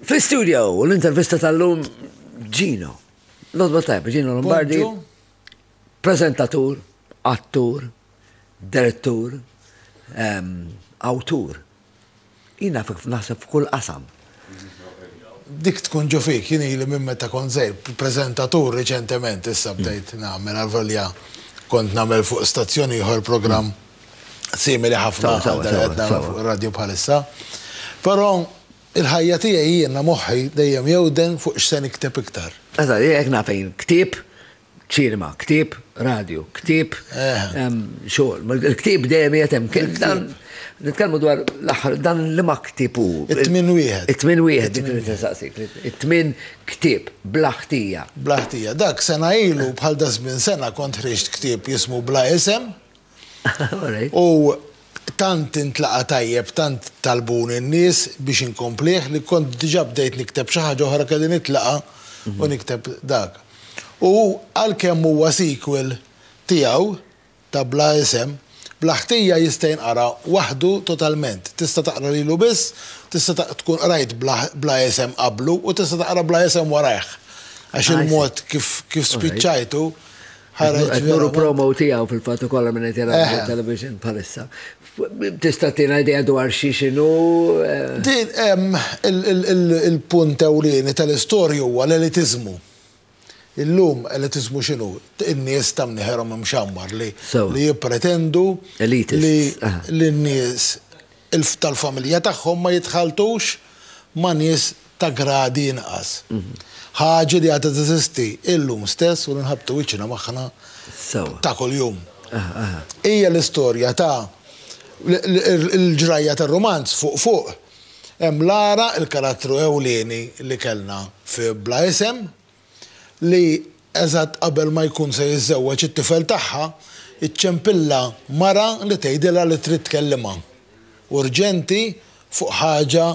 Fl-studio, l-intervista tal-lum Gino. L-odba tajba, Gino Lombardi. Prezentatur, attur, direttur, autur. Jina fik naħseb f'kull qasam. Dik tkun ġo fik, jina li minn meta konzej, prezentatur reċentement issa bdejt namel għal-volja kont namel fuq stazzjoni ieħor program simili ħafna għal dan qed nagħmlu fuq ir-radju bħalissa. Però il-ħajja tiegħi jiena moħħi dejjem jewden fuq x'se nikteb iktar. Eżatt, jekk nafejn ktieb, ċinema, ktieb, radju, ktieb, xogħol. Il-ktieb dejjem qiegħed hemm. Nitkellmu dwar l-aħħar dan li ma ktieb hu. It-tmien wieħed. It-tmien wieħed dik li tistaqsik. It-tmien ktieb bla ħtija. Bla ħtija. Dak sena ilu bħal dażmin sena kont ħriġt ktieb jismu Bla Isem. U tant intlaqa' tajjeb, tant talbuni n-nies biex inkomplih li kont diġà bdejt nikteb xi ħaġa oħra kelli nitlaqa' u nikteb dak. U għalkemm huwa sequel tiegħu ta' Bla Isem, Bla Ħtija jista' jinqara waħdu totalment. Tista' taqra lilu biss, tista' tkun qrajt Bla Isem qablu u tista' taqra Bla Isem warajh għax il-mod kif spiċċajtu ħareġ. Qed nuru promo tiegħu fil-fatt ukoll minn qed jara television bħalissa. Tista' tina idea dwar xi x'inhu? Eh? Din hemm il-punt ewlieni tal-istorja huwa l-elitiżmu. Illum elitiżmu x'inhu? In-nies ta' mnieħerhom imxammar li jippretendu li l-nies Elf tal-familja tagħhom ma jitħalltux ma' nies ta' gradi inqas. Ħaġi li għadha teżisti illum stess u li nħabbtu wiċċna magħha ta' kuljum. Hija l-istorja ta' l-ġrajja tar-rumanz fuq fuq. Hemm Lara, il-karattru ewlieni li kellna fi Bla Isem, li eżatt qabel ma jkun se jiżżewweġ it-tifel tagħha, iċċempilha mara li tgħidilha li trid tkellimha urġenti fuq ħaġa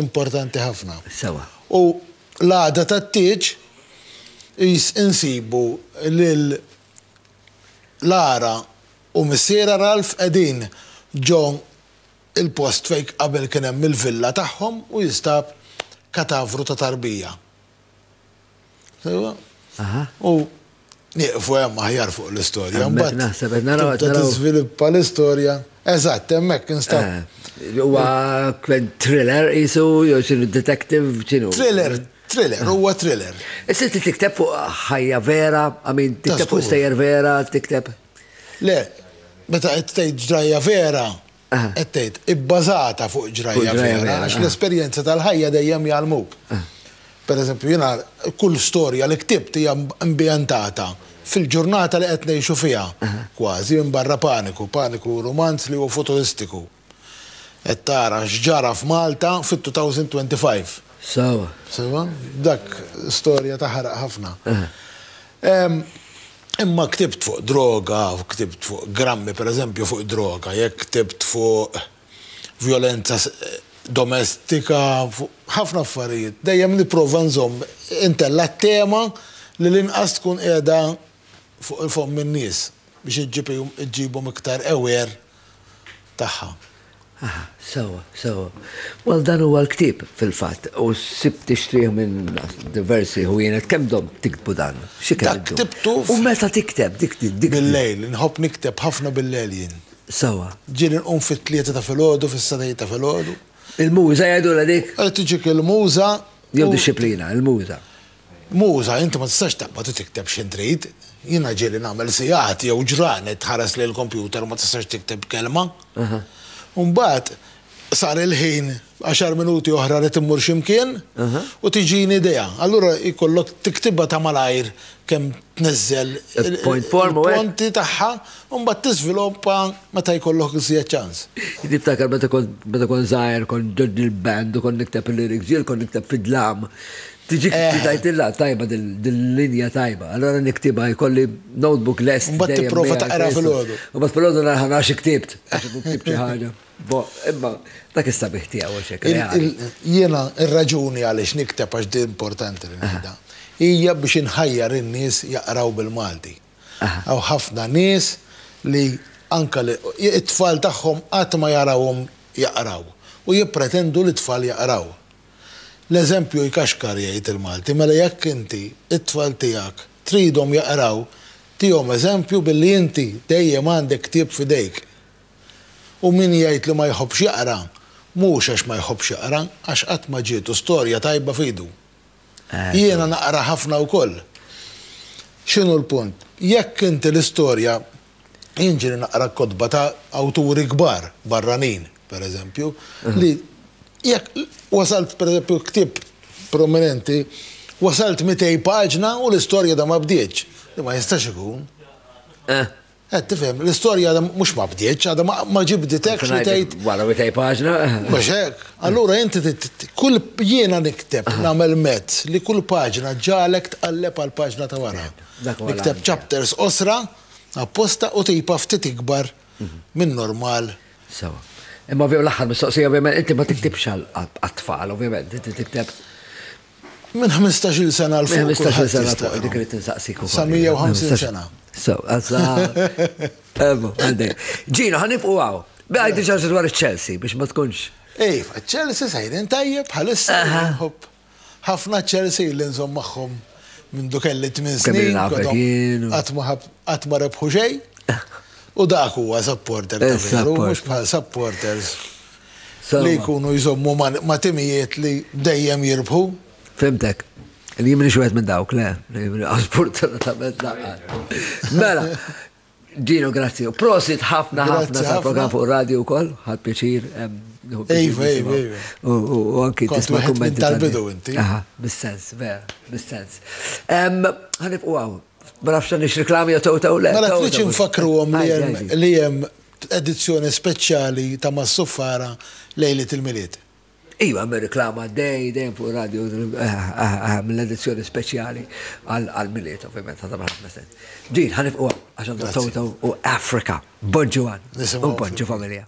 importanti ħafna. Sewwa. U l-għada tat-tieġ qis insibu lil Lara u missierha Ralph qegħdin ġo l-post fejn qabel kien hemm il-villa tagħhom u jinstab katavru ta' tarbija. U nieqfu hemm aħjar fuq l-istorja. Mbagħad naħseb qed naraw qed tiżviluppa l-istorja. Eżatt, hemmhekk instab. Eh, huwa thriller isu jew xi detective x'inhu? Thriller, thriller, eh. huwa thriller. Issa tikteb fuq ħajja vera, għamin tikteb fuq stejjer vera, tikteb. Le, meta qed tgħid ġrajja vera, Qed tgħid, ibbażata fuq ġrajja vera, għax l-esperjenzi tal-ħajja dejjem jgħallmuk. Pereżempju, jiena kull storja li ktibt hija ambjentata fil-ġurnata li qed ngħixu fiha, kważi, minbarra Paniku. Paniku hu rumanz li huwa futuristiku. Qed tara x'ġara f'Malta fit-2025. Sewa. Dak storja taħraq ħafna. Imma ktibt fuq droga, ktibt fuq grammi pereżempju fuq id-droga, jekk ktibt fuq vjolenza domestika, fuq ħafna affarijiet, dejjem nipprova nżomm intella' t-tema li l-inqas tkun qiegħda fuq il-fomm in-nies biex iġġibhom iktar aware tagħha. Aha, sewwa, sewwa. Well dan huwa l-ktieb fil-fatt u sibt tixtrih minn diversi ħwienet. Kemm domt tiktbu dan? Xi kemm? Dak ktibtu. U meta tikteb dik dik. Bil-lejl, inħobb nikteb ħafna bil-lejl jien. Sewwa. Ġieli nqum fit-tlieta ta' filgħodu, fis-satejn ta' filgħodu. Il-muża jgħidulha dik? Tiġik il-muża. Jew dixxiplina, il-muża. Muża, inti ma tistax taqbad u tikteb x'int trid. Jiena ġieli nagħmel sigħat jew ġranet tħares lejn il-kompjuter u ma tistax tikteb kelma. U mbagħad sar il-ħin, għaxar minuti oħra rrid immur xi mkien u tiġini idea. Allura jkollok tiktibha ta' malajr kemm tniżżel il-punti tagħha u mbagħad tiżviluppa meta jkollok iżjed ċans. Jien niftakar meta kont żgħir kont ġodni l-band u kont nikteb il-lyrics, ġieli kont nikteb fid-dlam Tiġi tajtilla tajba dil-linja tajba, allora niktiba jkolli notebook lest. Mbagħad tipprova taqra fil-għodu. U bas fil-għodu narħan għax iktibt, għax iktibt xi ħaġa. Bo, imma dak is-sabiħ tiegħu xek. Jiena ir-raġuni għaliex nikteb għax di importanti li nibda. Hija biex inħajjar in-nies jaqraw bil-Malti. Aw ħafna nies li anka li it-tfal tagħhom qatt ma jarawhom jaqraw u jippretendu li t-tfal jaqraw. L-eżempju jkaxkar jgħid il-Malti mela jekk inti t-tfal tiegħek tridhom jaqraw tihom eżempju billi inti dejjem għandek ktieb f'idejk. U min jgħid li ma jħobbx jaqra mhux għax ma jħobbx jaqra għax qatt ma ġietu storja tajba f'idu. Jiena naqra ħafna wkoll. X'inhu l-punt? Jekk inti l-istorja jinġri naqra l-kotba ta' awturi kbar barranin, per eżempju, li jekk wasalt per eżempju ktib prominenti, wasalt 200 paġna u l-istorja da ma bdietx, li ma jistax ikun. Eh. Qed tifhem, l-istorja għadha mhux ma bdietx, għadha ma ġibditek li tgħid. Wara 200 paġna. Mhux hekk. Allura inti kull jiena nikteb nagħmel mezz li kull paġna ġalek tqalleb għal paġna ta' wara. Nikteb chapters osra. apposta u tipa ftit ikbar minn normal. Sewa. Imma ovvjament l-aħħar mistoqsija ovvjament inti ma tiktibx għat-tfal, ovvjament inti tikteb. Minn 15-il sena l-fuq. Minn 15-il sena l-fuq dik irid insaqsik ukoll. Sa 150 sena. So, għazza. Ebu, għandek. Ġina, ħanibqu għaw. Bħaj diġa dwar il-Chelsea biex ma tkunx. Ej, Chelsea sajrin tajjeb bħalissa. Ħafna Chelsea illi nżomm magħhom mindu kelli tmien snin, qatt ma rebħu xejn. U dak huwa supporter ta' veru, mhux bħal supporters li jkunu jżommu ma' timijiet li dejjem jirbħu. Fimtek. Li jimni xwet minn dawk, le, li jimni għasbur tal-tabet laqqa. Mela, Gino, grazzi. Prosit ħafna ħafna sa' program fuq radio u koll, ħad pieċir. Ejva, ejva, ejva. U anki tisma kummenti. Tal-bidu inti. Aha, bis-sens, vera, bis-sens. Għanib u għaw, ma nafx nix reklami jow taw le. Ma mela, nafx nfakru għom li jem edizzjoni speċjali ta' Massuffara lejli til-miliet. Iva, hemm ir-riklama għaddej dejjem fuq ir-radju mill-edizzjoni speċjali għall-Milied, ovvjament, ħa tagħmel ħafna sens. Din ħanifqu għax għandha sawta u Afrika, Bon Ġuwan, u Bon Ġu familja.